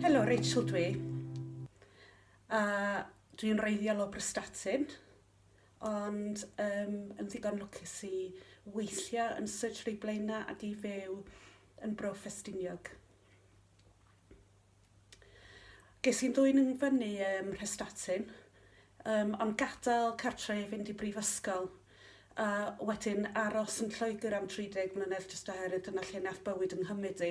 Helo, Rachel dwi. A dwi'n reiddiol o Brystatyn, ond um, yn ddigon lwcus i weithio yn Surgery Blaenau ac i fyw yn Bro Ffestiniog. Ges i'n dwyn yn fyny ym Mhrestatyn, yym, ond gadael cartre i fynd i brifysgol, a wedyn aros yn Lloegr am 30 mlynedd jyst oherwydd dyna lle nath bywyd yng nghymyd i.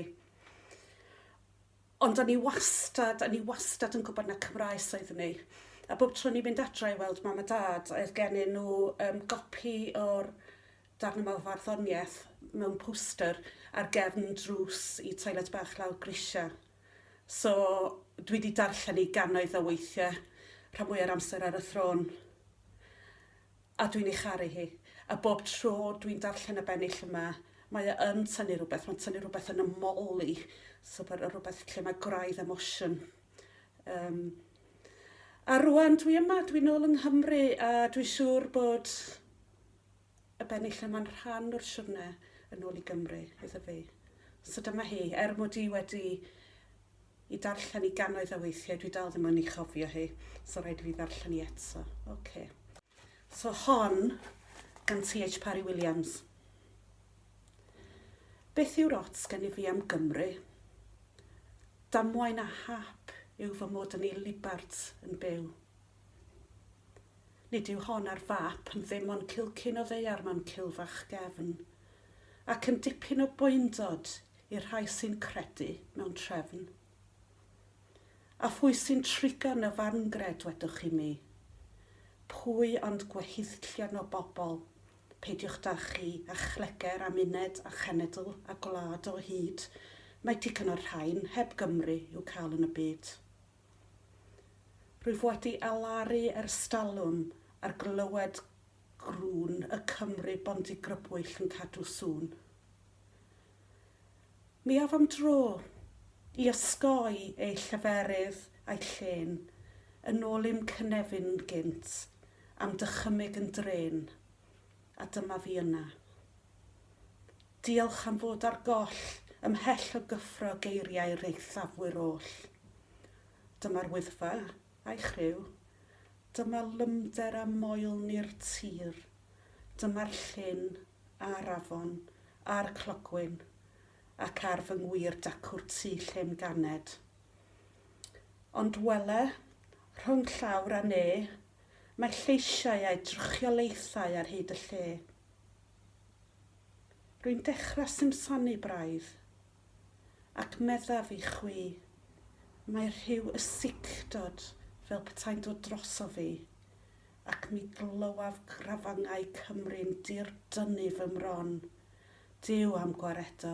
Ond o'n i wastad, o'n i wastad yn gwybod na Cymraes oeddwn i, a bob tro o'n i'n mynd adra i weld mam a dad, oedd gennyn nhw um, gopi o'r darn yma o farddoniaeth mewn poster ar gefn drws i toilet bach lawr grisiau. So, dwi wedi darllen hi gannoedd o weithiau, rhan fwya'r amser ar y thrôn. A dwi'n ei charu hi. A bob tro dwi'n darllen y bennill yma, mae o yn tynnu rhywbeth, mae'n tynnu rhywbeth yn y moli, so rhywbeth lle mae gwraidd emosiwn. Um, a rwan dwi yma, dwi'n ôl yng Nghymru, a dwi'n siŵr bod y benni lle mae'n rhan o'r siwrne yn ôl i Gymru iddo fi. So dyma hi, er mod i wedi i darllen i gannoedd o weithiau, dwi dal ddim yn ei chofio hi, so rhaid i fi ddarllen i eto. OK. So hon gan TH Parry Williams. Beth yw'r ots gen i fi am Gymru? Damwain a hap yw fy mod yn ei libart yn byw. Nid yw hon ar fap, yn ddim ond cilcyn o ddaear mewn cilfach gefn, ac yn dipyn o boendod i'r rhai sy'n credu mewn trefn. A phwy sy'n trigon y farngred, wedwch chi mi? Pwy ond gweithillion o bobl, peidiwch da chi, a chleger, am uned, a chenedl, a gwlad o hyd, mae digon o'r rhain, heb Gymru, i'w cael yn y byd. Rwyf wedi alaru ers talwm ar glywed grwn y Cymry bondigrybwyll yn cadw sŵn. Mi af am dro i osgoi eu lleferydd a'u llên yn ôl i'm cynefin gynt am dychymyg yn drên. A dyma fi yna. Diolch am fod ar goll, ymhell o gyffro geiriau reithafwyr oll. Dyma'r Wyddfa, a'i chriw. Dyma lymder a moelni'r tir. Dyma'r llyn, a'r afon, a'r clogwyn, ac ar fy ngwir dacw'r tŷ lle'm ganed. Ond wele, rhwng llawr a ne, Mae'r lleisiau a'u trychiolaethau ar hyd y lle. Rwy'n dechrau simsanu braidd. Ac meddaf i chwi, mae rhyw ysicdod fel petai'n dod drosof fi, ac mi glywaf grafangau Cymru'n dirdynnu fy mron. Duw am gwaredo,